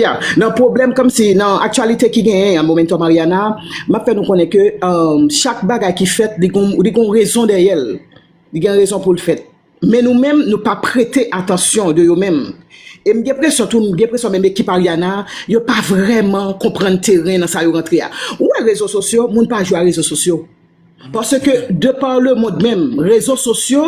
Ya, nan pwoblèm kòmsi nan aktyalite ki genyen an Momento Mariana, m ap fè nou konnen ke chak bagay ki fèt li gon rezon dèyè l, li gen rezon pou l fèt. Men nou menm nou pa prete atansyon de yo menm. E m gen presyon tou, m gen presyon menm ekip Ariana a, yo pa vrèman konprann teren nan sa yo rantre a. Ou wè rezo sosyo, moun pa jwe a rezo sosyo. Paske de par le monde menm, rezo sosyo,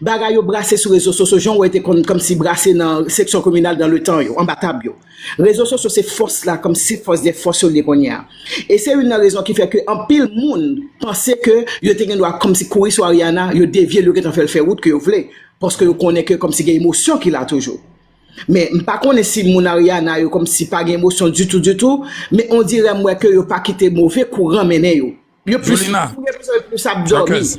bagay yo brase sou rezo sosyo, jan w wè yo te konn kòmsi brase nan seksyon kominal dan le tan yo, anba tab yo. Rezo sosyo se fòs la kòmsi fòs dè fòs yo li ye kounye a. E se youn nan rezon ki fè ke anpil moun panse ke yo te gen dwa kòmsi kouri sou Ariana, yo devye l, yo gentan fè l fè wout ke yo vle, paske yo konnen ke kòmsi gen emosyon ki la toujou. Men, m pa konnen si moun Ariana yo kòmsi pa gen emosyon ditou ditou, men ondirè m wè ke yo pa kite move kouran mennen yo. Yo plis Jolina. pou mwen yo plis ap dòmi. Jacques.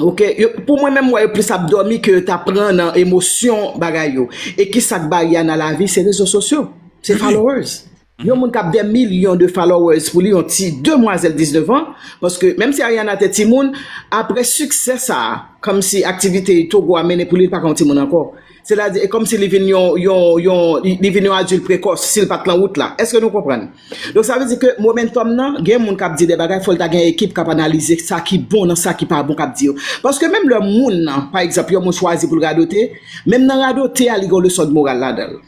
Ok, yo, pou mwen menm wè yo plis ap dòmi ke yo ta pran nan emosyon bagay yo. E ki sak ba ya nan lavi se rezo sosyo, se followers. Yon moun kap dè milyon de followers pou li yon ti demwazèl 19 an, paske menm si Ariana te timoun, apre siksè sa, kòmsi aktivite Togo a mennen pou li li pa ka yon timoun ankò. Sètadi, e kòmsi li vin yon, yon, yon, li vin yon adilt prekòs, si l pa t lan wout la. Èske nou konprann? Donk sa vle di ke momentòm nan, gen moun k ap di de bagay, fò l ta gen ekip k ap analize sa ki bon nan sa ki pa bon k ap di yo. Paske menm lè moun nan, pa egzanp, yon moun chwazi pou l radote, menm nan radote a li gen yon leson dmoral ladan l.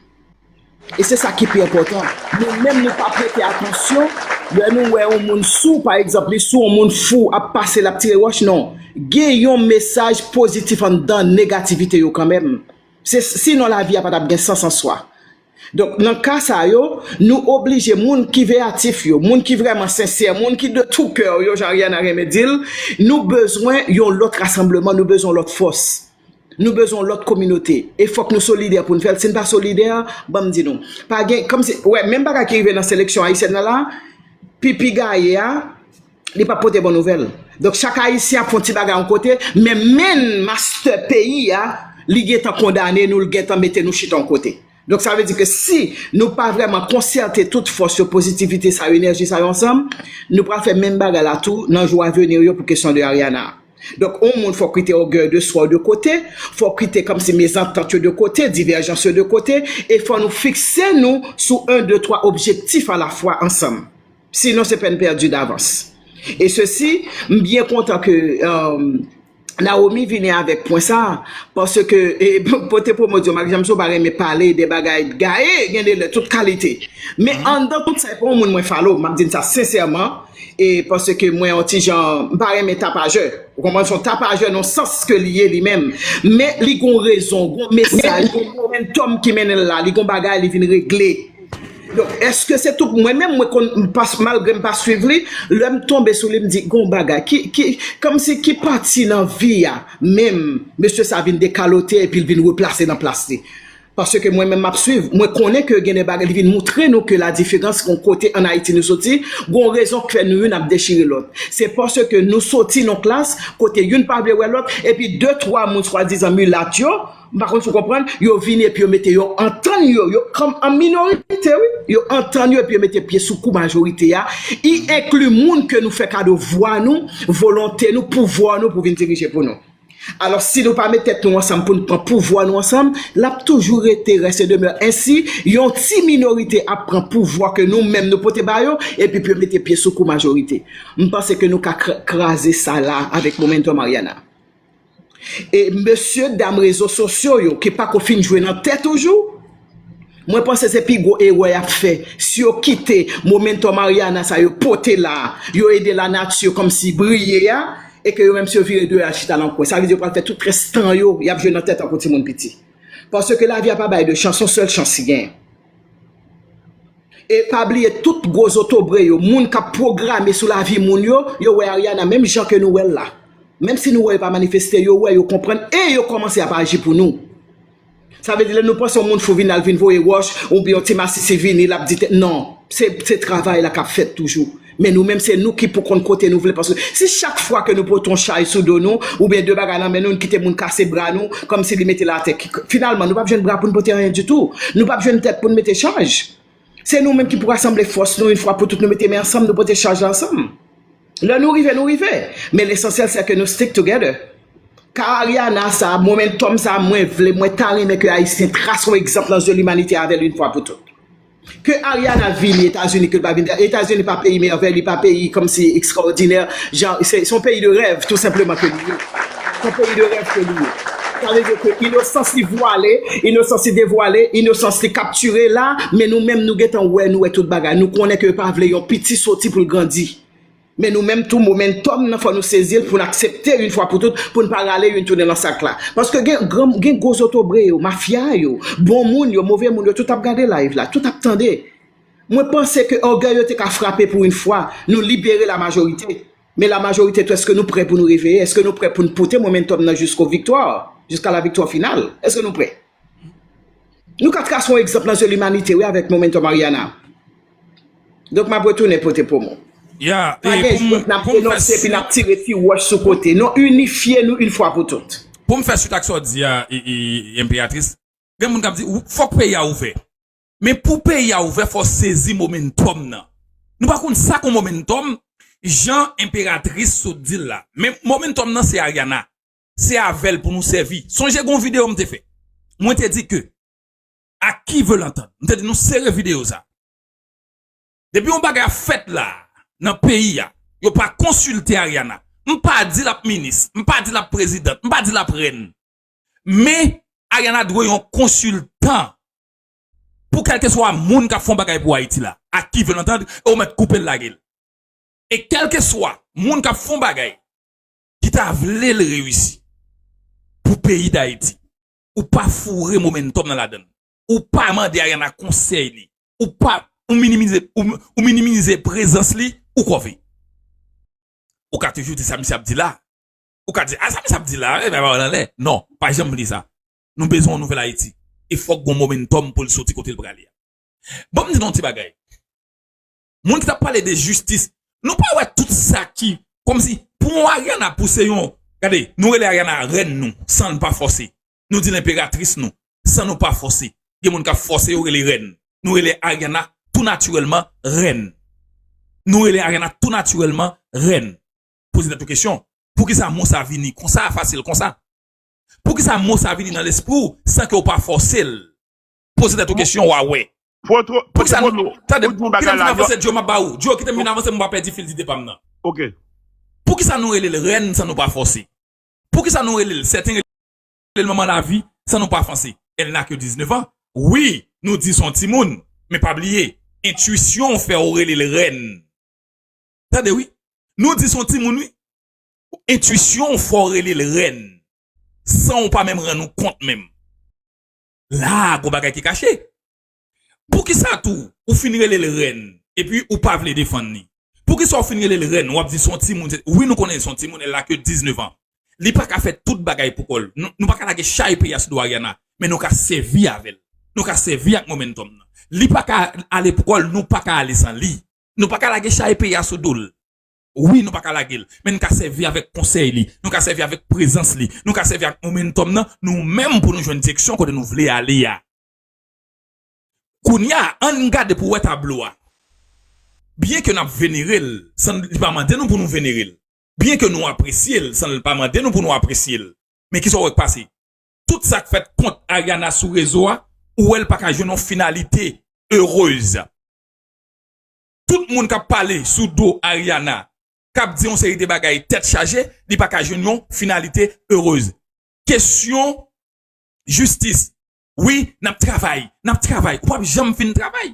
E se sa ki pi enpòtan, nou menm nou pa prete atansyon lè nou wè yon moun sou, pa egzanp li sou yon moun fou ap pase lap tire wòch non, gen yon mesaj pozitif anndan negativite yo kanmenm, se si non lavi a pa tap gen sans answa. Donk nan ka sa yo, nou oblije moun ki veyatif yo, moun ki vrèman sensè, moun ki de tou kè yo jan Ariana renmen dil, nou bezwen yon lòt rasanbleman, nou bezwen yon lòt fòs. Nou bezwen yon lòt kominote e fòk nou solidè pou n fè l. Si n pa solidè, ban m di nou, pa gen, kòm si, wè, menm bagay ki rive nan seleksyon ayisyèn nan la, Pipi gaye a, li pap pote bon nouvèl. Donk, chak Ayisyen ap fè yon ti bagay yon kote, men menn mastè peyi a, li gen tan kondane nou, li gen tan mete nou chita yon kote. Donk sa vle di ke si nou pa vrèman konsète tout fòs yo, pozitivite sa yo, enèji sa yo ansanm, nou pral fè menm bagay la tou nan jou avenir yo pou kesyon de Ariana. Donk on moun fòk kite ògèy de swa w de kote, fòk kite kòmsi mezantant yo de kote, divèjans yo de kote, e fò nou fikse nou sou 1, 2, 3 objektif a la fwa ansanm. Sinon se peine perdue d'avance. Et ceci, m byen kontan ke Naomi vini avèk pwen sa, paske pote pwomot yo, Marie-Jeanne Mousso pa renmen pale de bagay gaye, gen de lè tout kalite. Men anndan tout sa e pa yon moun mwen follow, m ap di n sa sensèman, e paske mwen yon ti jan, m pa renmen tapajè. Ou konprann? Se yon tapajè nan yon sans ke li ye li menm. Men li gen yon rezon, gen yon mesaj, gen yon momentum ki mennen l la, li gen yon bagay li vin regle. Donk eske se tout mwen menm mwen konn malgrem pa swiv li lèm tonbe sou li m di gon bagay ki kòmsi ki pati nan vi a menm mesye sa vin dekalote epi l vin replase nan plas li paske mwen menm map swiv mwen konnen ke gen de bagay li vin moutre nou ke ladiferans gon kote an Ayiti nou soti gon rezon k fè nou youn ap dechire lòt se paske nou soti nan klas kote youn pa vle wè lòt epi de twa moun swadizan milat yo M pa konn si w konprann, yo vini epi yo mete yo antann yo, yo kòm an minorite wi, yo antann yo epi yo mete pye sou kou majorite a, y enkli moun ke nou fè kado vwa nou, volonte nou, pouvwa nou pou vin dirije pou nou. Alòs si nou pa met tèt nou ansanm pou n pran pouvwa nou ansanm, l ap toujou rete reste demeure ensi, yon ti minorite ap pran pouvwa ke nou menm nou pote ba yo epi pou yo mete pye sou kou majorite. M panse ke nou ka kraze sa la avèk momentum Ariana. E mesye dam rezo sosyo yo ki pako fin jwe nan tè toujou, mwen panse se pi gwo erè y ap fè si yo kite momento Mariana sa yo pote la, yo ede lanati kòmsi briye a, e ke yo menm si yo vire do yo al chita nan kwen. Sa vle di yo pral fè tout rès tan yo y ap jwe nan tè tankou timoun piti. Paske lavi a pa bay 2 chans, s on sèl chans ki genyen. E pa bliye tout gwo zotobre yo, moun kap pwograme sou lavi moun yo, yo wè Ariana menm jan ke nou wèl la. Menm si nou wè yo pa manifeste, yo wè, yo konprann e yo kòmanse ap aji pou nou. Sa vle di lè nou panse yon moun fou vin al vin voye wòch oubyen yon ti masisi vini lap di tè non, se travay la kap fèt toujou. Men nou menm se nou ki pou konn kote nou vle paske si chak fwa ke nou pote yon chay sou do nou oubyen de bagay nan men nou nou kite moun kase bra nou kòmsi li mete l atè ki finalman nou pap jwenn bra pou nou pote anyen ditou nou pap jwenn tèt pou nou mete chaj se nou menm ki pou rasanble fòs nou yon fwa pou tout nou mete men ansanm nou pote chaj la ansanm lè nou rive nou rive men lesansyèl sè ke nou stick together ka Ariana sa momentum sa mwen vle mwen ta renmen ke ayisyen trase yon egzanp nan zye limanite avè l yon fwa pou tout. Ke Ariana vini etazini ke li pa vini etazini etazini pa peyi mèvèy li pa peyi kòmsi ekstraòdinè jan se son peyi de rèv tou senpleman ke li ye son peyi de rèv ke li ye sa vle di ke inosans li vwale inosans li devwale inosans li kaptire la men nou menm nou gentan wè nou wè tout bagay nou konnen ke yo pa vle yon piti soti pou l grandi. Men nou menm tou momentum nan fò nou sezil poun aksepte yn fwa pou tout poun pa rale yn tounen lan sak la paske gen gran gen gwo zotobre yo mafya yo bon moun yo move moun yo tout ap gade live la tout ap tande mwen panse ke ògèy yo te ka frape pou yn fwa nou libere la majorite men la majorite tou eske nou prè pou nou reveye eske nou prè poun pote momentum nan jisko viktwa jiska la viktwa final eske nou prè. Nou ka trase yon egzanp nan zye limanite wi avèk Momentum Ariana. Donk map retounen pote promo. Pa gen jwèt nap denonse epi nap tire ti wòch sou kote. Non inifye nou yn fwa pou tout. Poum fè swit ak sa w di a Emperatrice, gen moun kap di fòk peyi a ouvè. Men pou peyi a ouvè fò w sezi Momentum nan. Nou pa konn sa kon Momentum jan Emperatrice sot di l la. Men Momentum nan se Ariana. se avè l pou nou sèvi. Sonje gen yon videyo m te fè, mwen te di ke a qui veut l'entendre, m te di nou sere videyo sa a. Depi yon bagay ap fèt la a, nan peyi a, yo pa konsilte Ariana. M pa di l ap minis, m pa di l ap prezidant, m pa di l ap rèn. Men, Ariana dwe yon konsiltan pou kèlkeswa moun k ap fè yon bagay pou Ayiti la. A qui veut l'entendre, e ou mèt koupe l lage l. E kèlkeswa moun k ap fè yon bagay ki ta vle l reyisi pou peyi dayiti ou pa foure momentum nan ladan l ou pa mande ariana konsèy li ou pa ou minimize ou minimize prezans li ou kòve ou ka toujou di sa misye ap di la ou ka di a sa misye ap di la e bay pawòl anlè non pa janm li sa nou bezwen yon nouvèl ayiti e fòk gon momentum pou l soti kote l prale a banm di nou yon ti bagay. moun ki tap pale de jistis, nou pa wè tout sa ki, kòm si, pou yon Ariana pou se yon, gade, nou rele Ariana rèn nou, san n pa fòse, nou di l enperatris nou, san nou pa fòse, gen moun kap fòse yo rele rèn, nou rele Ariana tou natirèlman rèn, nou rele Ariana tou natirèlman rèn, poze tèt ou kesyon, poukisa mo sa vini konsa, fasil konsa? Poukisa mo sa vini nan lespri w san ke w pa fòse l? Poze tèt ou kesyon wa wè. Poukisa, tande, kitem vin avanse Joe map ba ou, Joe kitem vin avanse pou m pa pèdi fil dide pam nan. Poukisa nou rele l rèn san nou pa fòse? Poukisa nou rele l, sèten rele l manman lavi san nou pa fanse? Elle n'a que 19 ans, wi nou di son timoun men pa bliye entuisyon w fè w rele l rèn. Tande wi, nou di son timoun wi, entuisyon w fè w rele l rèn san w pa menm rann ou kont menm. la a gon bagay ki kache. Poukisa tou ou fin rele l rèn epi ou pa vle defann li? Poukisa ou fin rele l rèn wap di son timoun se wi nou konnen son timoun elle a ke 19 ans li pa ka fè tout bagay pou kò l nou pa ka lage chay peyi a sou do Ariana men nou ka sèvi avè l nou ka sèvi ak momentum nan li pa ka ale pou kò l nou pa ka ale san li nou pa ka lage chay peyi a sou do l. Wi, nou pa ka lage l, men n ka sèvi avèk konsèy li, nou ka sèvi avèk prezans li, nou ka sèvi ak momentòm nan nou menm pou nou jwenn direksyon kote nou vle ale a. Kounye a, an n gade pou wè tablo a. Byenke n ap venere l san li pa mande nou pou nou venere l, byenke nou apresye l san l pa mande nou pou nou apresye l, men ki sa w wè k pase? Tout sa k fèt kont Ariana sou rezo a, ou wè l pa ka jwenn yon finalite erez. tout moun kap pale sou do Ariana kap di yon seri de bagay tèt chaje li paka jwenn yon finalite heureuse kesyon jistis wi nap travay nap travay ou pap janm fin travay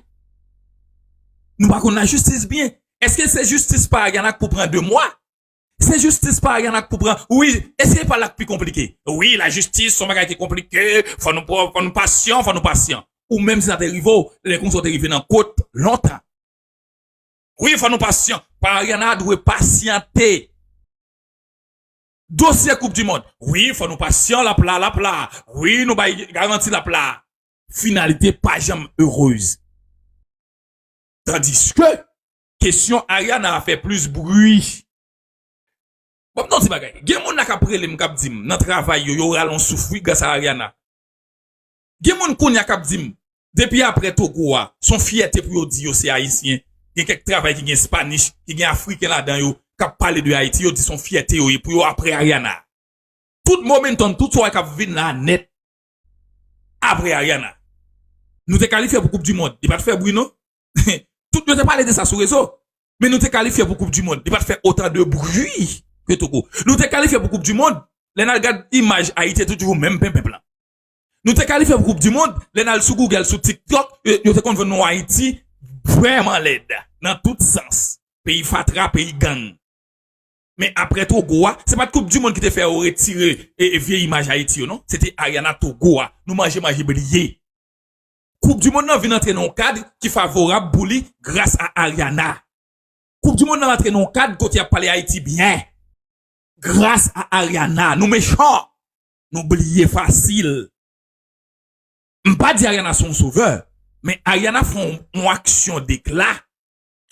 nou pa konn lajistis byen eske se jistis pa Ariana k pou pran 2 mwa Se jistis pa yan ak pou pran wi e se pa la k pi konplike. Wi la jistis son bagay ki konplike fò nou pran fò nou pasyan fò nou pasyan. Ou menm si sa te rive w lè konsa w te rive nan kot lontan. Wi fò nou pasyan pa yan a dwe pasyante. Dosye koup di mond wi fò nou pasyan lap la lap la wi nou bay garanti lap la. Finalite pa janm erez. Tandiske Kesyon Ariana a fè plis bri. Bon m ta w ti bagay, gen moun la k ap rele m k ap di m nan travay yo, yo rale yon souf wi gras a Ariana. Gen moun kounya k ap di m depi aprè Togo a, s on fyète pou yo di yo se Ayisyen. Gen kèk travay ki gen Spanish, ki gen Afriken ladan yo, k ap pale de Ayiti, yo di s on fyète yo ye pou yo aprè Ariana. Tout momentum, tout sa w wè k ap vin la a nèt aprè Ariana. Nou te kalifye pou koup di mond, li pa t fè bri non. Tout yo te pale de sa sou rezo. Men nou te kalifye pou koup di mond. Li pat fè otan de bri ke Togo. Nou te kalifye pou koup di mond. Lè nan gad imaj Ayiti e toujou menm penpen plan. Nou te kalifye pou koup di mond. Lè nan sou Google, sou TikTok, yo te konn vwenn nou Ayiti vrèman lèd. Nan tout sans. Peyi fatra, peyi gang. Men apre Togo a, se pat koup di mond ki te fè yo retire e vye imaj Ayiti yo non. Se te Ariana Togo a. Nou manje manje bliye. Koup di mond lan vin antre nan yon kad ki favorab pou li gras a Ariana. Koup di mond lan antre nan yon kad kote yap pale Ayiti byen gras a Ariana. Nou mechan, nou bliye fasil. M pa di Ariana se yon sovè, men Ariana fè yon aksyon dekla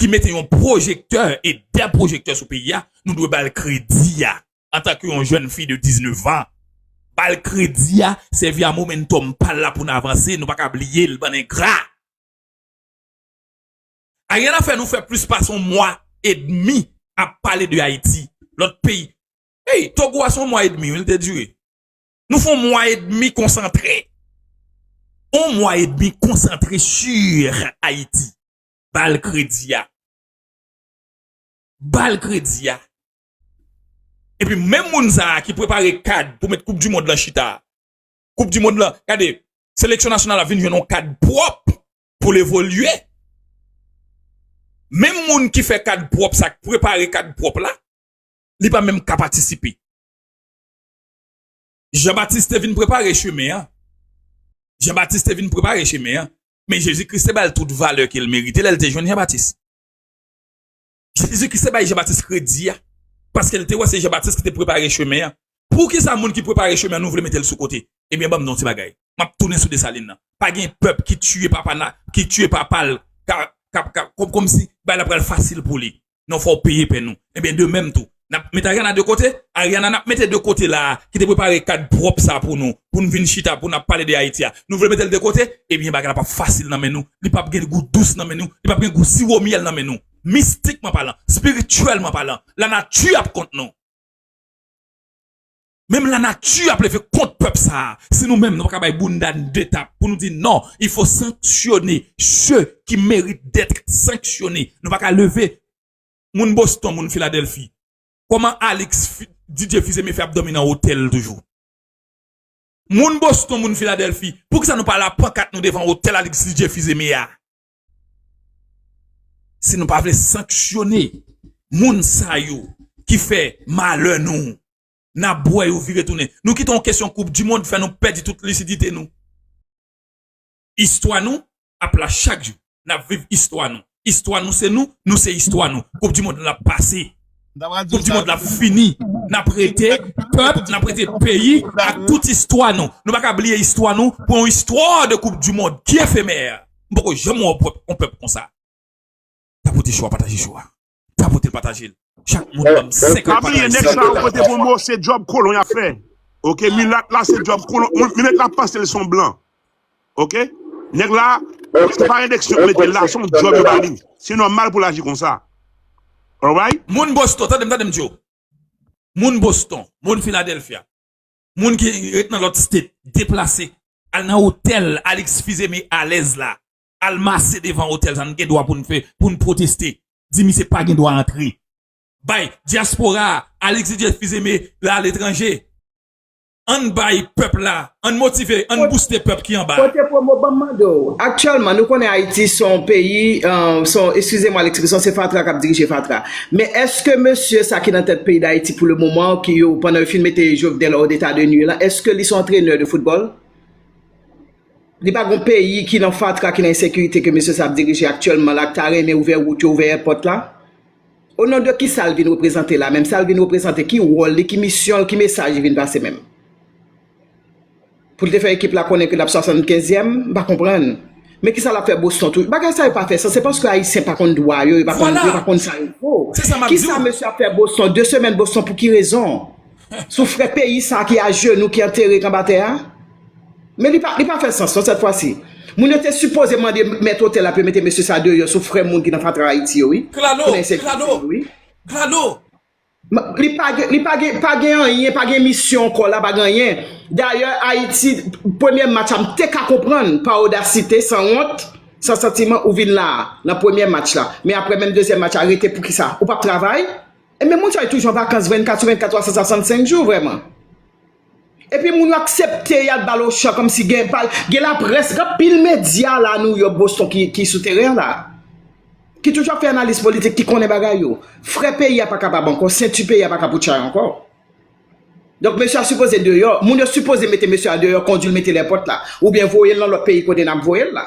ki mete yon pwojektè e dè pwojektè sou peyi a, nou dwe ba l kredi a antan ke yon jèn fi de 19 an. Ba l kredi a, sèvi a momentòm pa l la pou n avanse, nou pa ka bliye l, bann engra! Ariel a fè nou fè plis pase yon mwa edmi ap pale de Ayiti, lòt peyi. Ey, Togo a se yon mwa edmi wi l te dire. Nou fè yon mwa edmi konsantre. Yon mwa edmi konsantre sur Ayiti. Bal kredi a. Bal kredi a. E pi menm moun sa a ki prepare kad pou met koup di mond lan chita. Koup di mond lan, kade, seleksyon nasyonal la vin jwenn yon kad pwop pou le volye. Menm moun ki fè kad pwop sa, ki prepare kad pwop la, li pa menm ka patisipe. Jean Baptiste te vin prepare cheme a. Jean Baptiste te vin prepare cheme a. Men Jezi Kris te ba l tout valè ke l merite lè l te jwenn Jan Batis. Jezi Kris te bay Jan Batis kredi a, paske l te wè se Jan Batis ki te prepare chemen an. Poukisa moun ki prepare chemen an nou vle mete l sou kote? Ebyen ban m di w yon ti bagay, m ap tounen sou Desalin nan. Pa gen pèp ki tiye papa nan, ki tiye papa l, ka, ka, ka, kòmsi bagay la pral fasil pou li. non fòw peye pèn ou ebyen de menm tou nap met Ariana de kote Ariana nap mete de kote la ki te prepare kad pwòp sa pou nou pou nou vin chita pou nap pale de Ayiti a nou vle metel de kote ebyen bagay la pap fasil nan men nou li pap gen gou dous nan men nou li pap gen gou siwo myèl nan men nou mistikman palan spirityèlman palan lanati ap kont nou. Menm la nati ap leve kont pèp sa a si nou menm nou pa ka bay bounda n de tap pou nou di non il fo sanksyone se ki merite detre sanksyone nou pa ka leve moun Boston moun Filadelfi kòman Alix Didier Fils-Aimé fè ap dòmi nan otèl toujou moun Boston moun Filadelfi pou kisa nou pa la pankat nou devan otèl Alix Didier Fils-Aimé a si nou pa vle sanksyone moun sa yo ki fè malè nou. N ap bwè yo vire tounen. Nou kite yon kesyon koup di mond fè nou pèdi tout lisidite nou. Istwa nou ap la chak jou. N ap viv istwa nou. Istwa nou se nou, nou se istwa nou. Koup di mond lan ap pase. Koup di mond lan ap fini. N ap rete pèp, n ap rete peyi ak tout istwa nou. Nou pa ka bliye istwa nou pou yon istwa de koup di mond ki efemè. M poko janm wè yon pèp konsa. Tapote cho a, pataje cho a. Tapotel patajel chak moun banm 50 Pa bliye nèg sa yo pote pou mou se djòb kolon yap fè ok milat la se djòb kolon milat la panse li son blan ok nèg la se pa redeksyon yo metel la son djòb yo bali se nòmal poul aji konsa alright. Moun Boston tandem tandem diw moun Boston moun Philadelphia moun ki ret nan lòt state deplase al nan otèl Alix Fils-Aimé alèz la al mase devan otèl sa nou gen dwa poun fè poun pwoteste di misye pa gen dwa antre bay diaspora a Alix Didier Fils Aimé la aletranje ann bay pèp la ann motive ann bouste pèp ki anba. Kote promo banm mande w, aktyèlman nou konnen Ayiti se yon peyi se yon eskize mwa lekspresyon se fatra kap dirije fatra men eske mesye sa ki nan tèt peyi Dayiti pou le moman an ki yo pandan yo fin mete Jovenel hors d'état de nuire lan eske li son antrenè de foutbòl? Li pa gon peyi ki nan fatra, ki nan ensekirite ke mesye sa ap dirije aktyèlman la, k ta renmen ouvè wout yo, ouvè èpòt la? O non de kisa l vin reprezante la menm? Sa l vin reprezante? Ki wòl li? Ki misyon l? Ki mesaj li vin pase menm? Pou l te fè ekip la konnen ke l ap 75 yèm? M pa konprann. Men kisa l ap fè Boston tou? Bagay sa yo pa fè sans. Se paske Ayisyen pa konn dwa yo, yo pa konn sa yo vo. Kisa mesye ap fè Boston? 2 semèn Boston pou ki rezon? Sou frè peyi sa ki ajenou ki antere k anba tè a? Men li pa li pa fè sans non sèt fwa si. Moun yo te sipoze mande mèt otèl la pou yo mete mesye sa deyò sou frè moun ki nan fatra Ayiti yo wi. Pou nèg sekirite yo wi. Li pa gen li pa gen pa gen anyen pa gen misyon ankò la pa gen anyen. Dayè Ayiti premyè match la m te ka konprann pa odasite san wont san santiman ou vin la a nan premyè match la. Men aprè menm dezyèm match la rete poukisa? Ou pap travay? Ebyen moun sa yo toujou an vakans 24 sou 24 365 jou vrèman. Epi moun yo aksepte yal bal ochan komsi gen pal gen la près gen pil medya la New York Boston ki sou teren la ki toujou ap fè analiz politik ki konnen bagay yo frè peyi a pa kapab ankò senti peyi a pa kapoutchay ankò donk mesye a sipoze deyò moun yo sipoze mete mesye a deyò kondil metel èpòt la oubyen voyel nan lòt peyi kote nap voyel la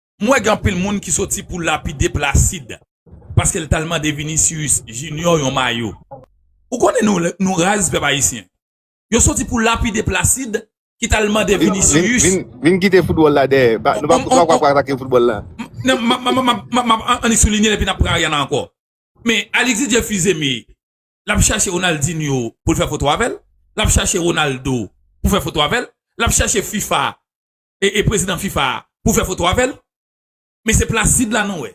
M wè gen anpil moun ki soti pou lapide Placide paske l t al mande Vinicius Junior yon mayo. Ou konnen nou nou raz pèp ayisyen. Yo soti pou lapide Placide ki t al mande Vinicius. Vin kite foutbòl la dèyè. Nou pa pou ap atake foutbòl la. Non m ap annik soulinye l epi n ap pran Ariana ankò. Men Alix Didier Fils-Aimé l ap chache Ronaldinho pou l fè foto avè l. L ap chache Ronaldo pou fè foto avè l. L ap chache fifa e prezidan fifa a pou fè foto avèl men se placide la nou wè.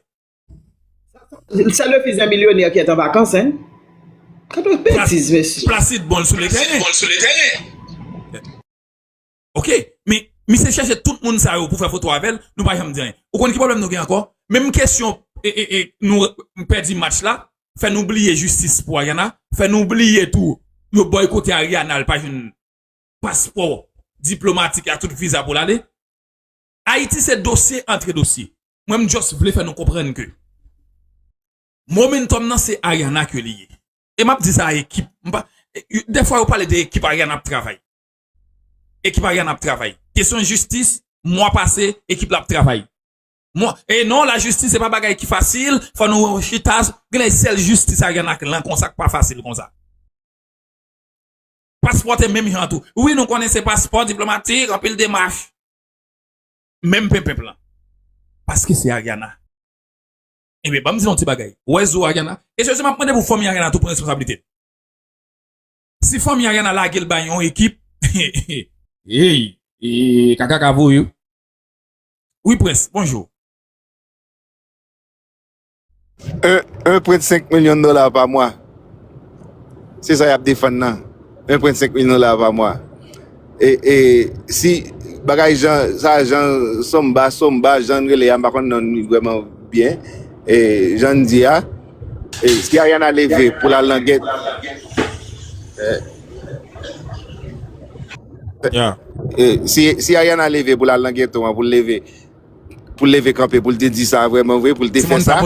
Sa le fils d'un millionnaire qui est en vacances hein. Kado betiz mesye. Placide bon sou le teren. Ok, men misye chèche tout moun sa yo pou fè foto avèl, nou pa janm di anyen. Ou konn ki pwoblèm nou gen ankò? Menm kesyon nou pèdi match la, fè nou bliye jistis pou Ariana, fè nou bliye tou yo boykote Ariana li pa jwenn paspò diplomatik a tout viza pou l ale. Ayiti se dosye antre dosye. Mwen m just vle fè nou konprann ke momentum nan se Ariana ke li ye. E m ap di sa a ekip. M pa, dè fwa yo pale de ekip Ariana ap travay. Ekip Ariana ap travay. Kesyon jistis, mwa pase, ekip la ap travay. Mwa, e non la jistis se pa bagay ki fasil, fò nou wè yon chita, genlè sèl jistis Ariana k lan konsa k pa fasil konsa. Paspò te menm jan tou. Wi nou konnen se paspò diplomatik, anpil demach. Menm penpenp lan. Paske se Ariana. Ebyen banm di nou ti bagay. Ou wè zo Ariana? E jezi map mande pou fanmi Ariana tou pran responsablite l. Si fanmi Ariana lage l bay yon ekip, eyy ee kaka ka voye w. Wi Prince, bonjour. 1 1.5 milyon dola pa mwa se sa yap defann nan 1.5 milyon dola pa mwa e e si bagay jan sa jan somba somba jan rele ya m pa konn non li vreman byen e jan di ya e si Ariana leve pou la lan gèt e Yeah. e si si Ariana leve pou la lan ghetto an pou leve pou l leve kanpe pou l te di sa vrèman vre pou l te fè sa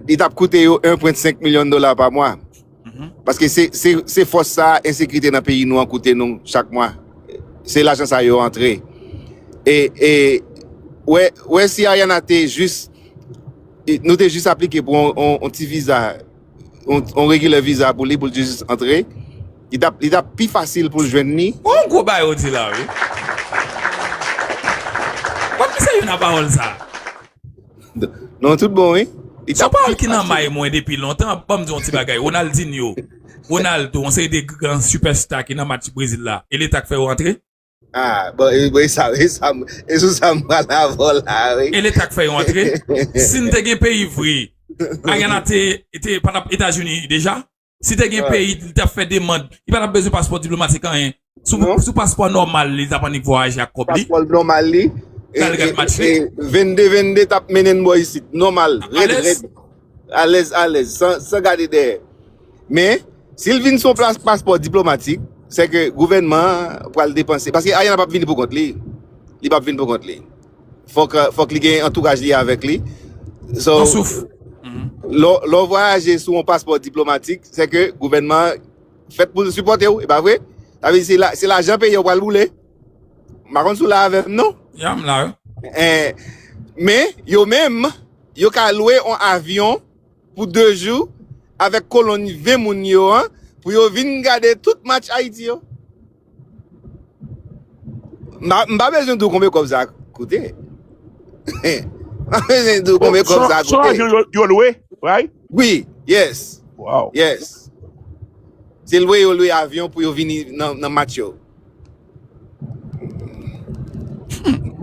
li tap koute yo 1.5 milyon dola pa mwa paske se fòs sa ensekirite nan peyi nou an koute nou chak mwa se lajan sa yo antre e wè si Ariana te jis nou te jis aplike pou yon ti viza on, on regular visa pou li pou l just antre, li tap li tap pi fasil pou l jwenn ni. Yon gwo bagay ou di la wi. Wap ki serye nan pawòl sa. Non tout bon wi. Li Son tap pawòl pi ki nan fasil. may mwen depi lontan, banm di yon ti bagay, Ronaldinho, Ronaldo, yon seri de gran super star ki nan match Brezil la, e leta k fè yo antre? Ah, bon, e, bon, e sa, e sa, m- e sou sa m pral avò la, oui. E leta k fè yo antre. Si n te gen peyi vre, Ariana te, te pa tap Etazini deja. Si te gen peyi, li tap fè demand. Li pa tap bezwen paspò diplomatik anyen. Sou, Non. sou paspò nòmal li tap annik vwayaje ak kòb li. Paspò l nòmal li. E, Gade, e, gade match li. e 22 22 tap mennen n bò isit. Nòmal, Tap rèd alèz. rèd. Alèz alèz, san san gade dèyè. Men, si l vin sou plas paspò diplomatik, se ke gouvènman an pral depanse. Paske Ariana p ap vini pou kont li. Li p ap vin pou kont li. Fòk fòk li gen antouraj li avèk li. So, Pran souf. lè lè w vwayaje sou yon paspò diplomatik, se ke gouvènman an fèt pou l sipòte w, e pa vre? Sa vle di se la se lajan peyi a w pral boule. M pa konn si w la avè m non. Ya m la wi. Eh, men, yo menm, yo ka lwe on avyon pou 2 jou avèk kolonn 20 moun yo an pou yo vin gade tout match Ayiti yo. M pa bezwen di w konbe kòb sa koute. M pa bezwen di w konbe kòb sa koute. Son avyon yo lwe, right? Wi, yes. Wow. Yes. Se lwe yo lwe avyon pou yo vini nan match yo.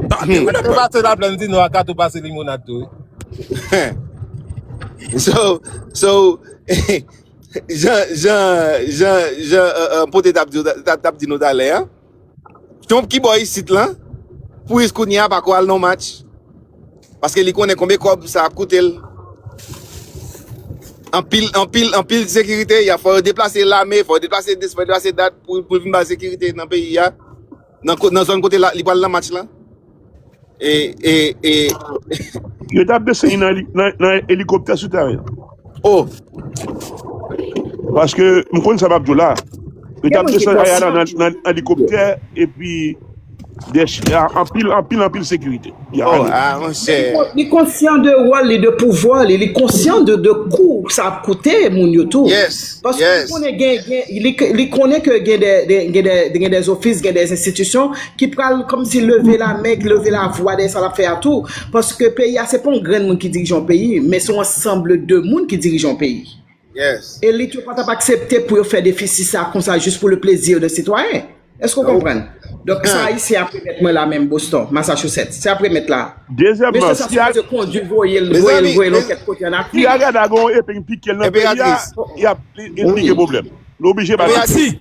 Tande wi Tou lapèp. pase la plèn di nou a ka tou pase limonad tou wi. So, so, jan, jan, jan, jan uh, uh, pote tap di, tap, tap di nou talè an, Trump ki bò isit lan, pou jis kounye a pako al non match. Paske li konnen konbyen kòb sa ap koute l. Anpil, anpil, anpil sekirite. Ya fò yo deplase lame, fò yo deplase dis, fò yo deplase dat pou vin bay sekirite nan peyi a. Nan ko- nan zòn kote la- li pral nan match lan. E, e, e Yo tap desen li nan, nan, nan elikoptè sou tèren. Oh, paske m konn sa m ap di w la. Yo t Gen ap moun ki desann pran Ayana san nan jou nan pou yo. elikoptè epi de anpil anpil anpil sekirite. Ya Oh, ale. ah, mon Men li, cher. kon- li konsyan de wòl li, de pouvwa li, li konsyan de, de kou sa ap koute moun yo tou. Yes, Paske li yes. konnen gen, gen li, k- li konnen ke gen de, de- gen de, gen des office, gen des institutions ki pral kòmsi leve lamen, ki leve lavwa dèyè sa l ap fè a tou. Paske peyi a se pa yon grenn moun ki dirije yon peyi, men se yon ansanble de moun ki dirije yon peyi. Elit yo pa t ap aksepte pou yo fè defisi sa konsa jis pou le plezi de sitwayen. Èske ou konprann? Donk, sa Ayisyen ap remèt mwen la menm Boston, Massachusetts, sa y ap remèt la a. Mesye sa sipoze kondi voye l voye l yon kèk kote ann Afrik. Si Agada gen yon epe ki pike l nan peyi a, li ap li kreye pwoblèm. Li oblije bay l.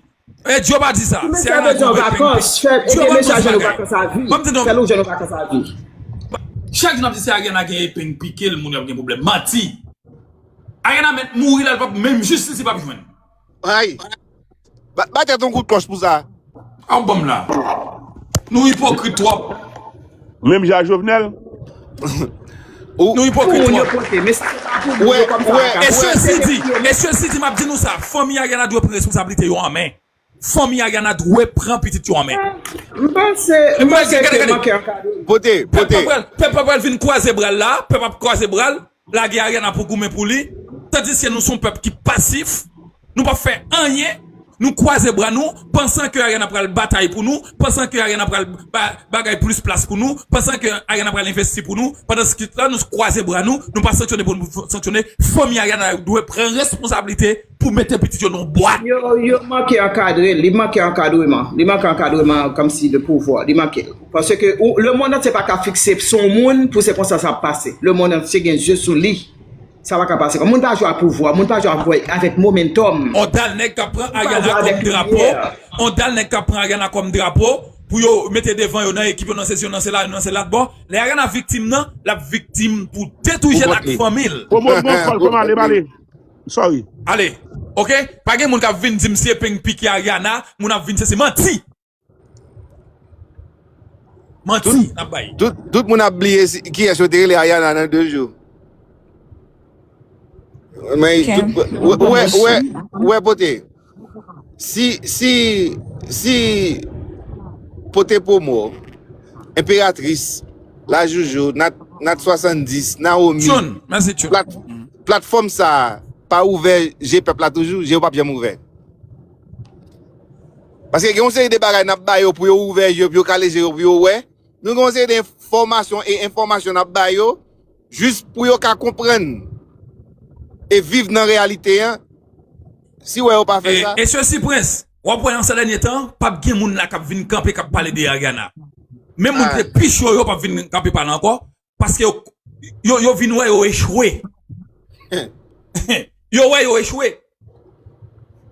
Eh Dieu pa di sa, Ti mesye a bezwen yon vakans, fèl ede mesye a jwenn yon vakans a vi, fèl ou jwenn yon vakans a vi. Chak jou nap di se Ariana gen epeng pikel moun yo ap gen pwoblèm. Manti! Ariana mèt mouri la li pap menm jistis li pap jwenn. Ray. Ba tèt yon kout klòch pou sa. Aw banm la. Nou ipokrit twòp. Menm jan jovenel ou Nou ipokrit moun yo pote men sa yo pa pou moun yo kòm sa yo ka E sesi di, e sesi di map di nou sa fanmi Ariana dwe pran responsablite yo an men Fanmi Ariana dwe pran pitit yo an men M panse, m panse ke manke ankadreman. Pote, pote. Pèp la pral vin kwaze bra l la, pèp ap kwaze bra l, Lage Ariana pou goumen pou li, tandiske nou son pèp ki pasif, nou pap fè anyen, nou kwaze bra nou, pansan ke Ariana pral batay pou nou, pansan ke Ariana pral bay bagay plis plas pou nou, pansan ke Ariana pral envesti pou nou, pandansketan nou kwaze bra nou, nou pa sanksyone pou nou sanksyone, fanmi Ariana yo dwe pran responsablite. pou mete pitit yo nan yon bwat. Yo yo manke ankadre l, li manke ankadreman, li manke ankadreman kòmsi de pouvwa, li manke l. Paske ou lemonn antye pa ka fikse sou yon moun pou se konsa sa ap pase. Lemonn antye gen zye sou li. Sa pa ka pase kon. Moun pa jwe a pouvwa, moun pa jwe avèk momentòm. On dal nèg kap pran Ariana kòm drapo, on dal nèg kap pran Ariana kòm drapo pou yo mete devan yo nan ekip yo nan sesi yo nan sela yo nan se latbò. Lè Ariana viktim nan, lap viktim pou de tou jèn ak fanmi l. Komòd mwen fòl kòm ale bale. Sorry. Ale ok pa gen moun kap vin dim se peng piki Ariana moun ap vin se se manti manti nap bay. Tout moun ap bliye kiyes yo te rele Ariana nan 2 jou ou we pote. Si si si pote promo enperatris la joujou nat nat 70 nawomi Tune, mèsi Tune. plat platfòm sa pa ouvè je pèp la toujou je yo pap janm ouvè paske gen yon seri de bagay nap bayo pou yo ouvè je yo pou yo kale je yo pou yo wè nou gen yon seri de enfòmasyon e enfòmasyon nap bayo Jis pou yo ka konprann e viv nan reyalite an, si wè yo pa fè sa. E sesi Prince, wap wè nan sa dènye tan, pap gen moun la kap vin kanpe kap pale de Ariana. Menm moun ki te pi cho yo pap vin kanpe pale ankò, paske yo yo vin wè yo echwe. Yo wè yo echwe.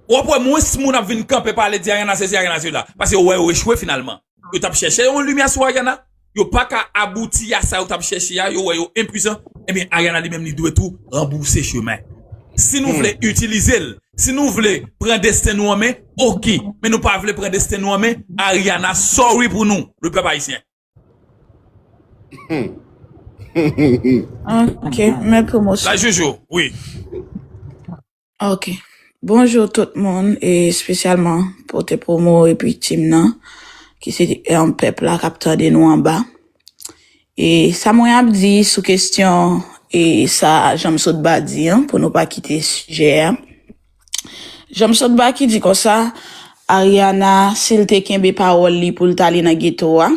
Wap wè mwens moun ap vin kanpe pale di Ariana sesi Ariana sela paske yo wè yo echwe finalman. Yo tap chèche yon limyè sou Ariana, yo paka abouti a sa yo tap chèche a, yo wè yo enpuisan, ebyen Ariana li menm li dwe tou ranbouse chemen. Si nou vle itilize l, si nou vle pran desten nou an men, ok, men nou pa vle pran desten nou an men, Ariana sorry pou nou, le pèp ayisyen. Ok, mè La pwomosyon. joujou, wi. Ok. Bonjour tout moun e spesyalman pote promo epi team nan ki se yon pèp la kap tande nou anba. E sa mwen ap di sou kesyon e sa Janmsotba di an pou nou pa kite sijè a. Janm sòt baky di konsa Ariana sil te kenbe pawòl li poul t ale nan geto a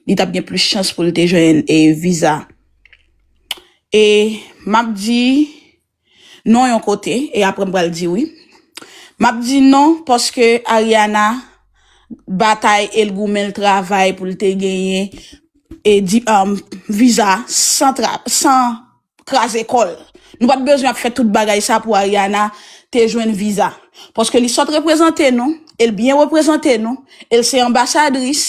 li tap gen plis chans poul te jwenn viza e map di non yon kote e aprè m pral di wi map di non paske Ariana batay el goumen l travay poul te genyen viza san. kraze kòl. Nou pat bezwen ap fè tout bagay sa pou Ariana te jwenn viza. Paske li sot reprezante nou, el byen reprezante nou, el se anbasadris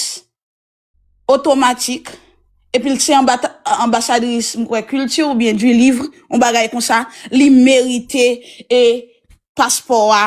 otomatik, epil se anbasadris m kwè kilti ou byen du livre, yon bagay konsa, li merite e paspò a.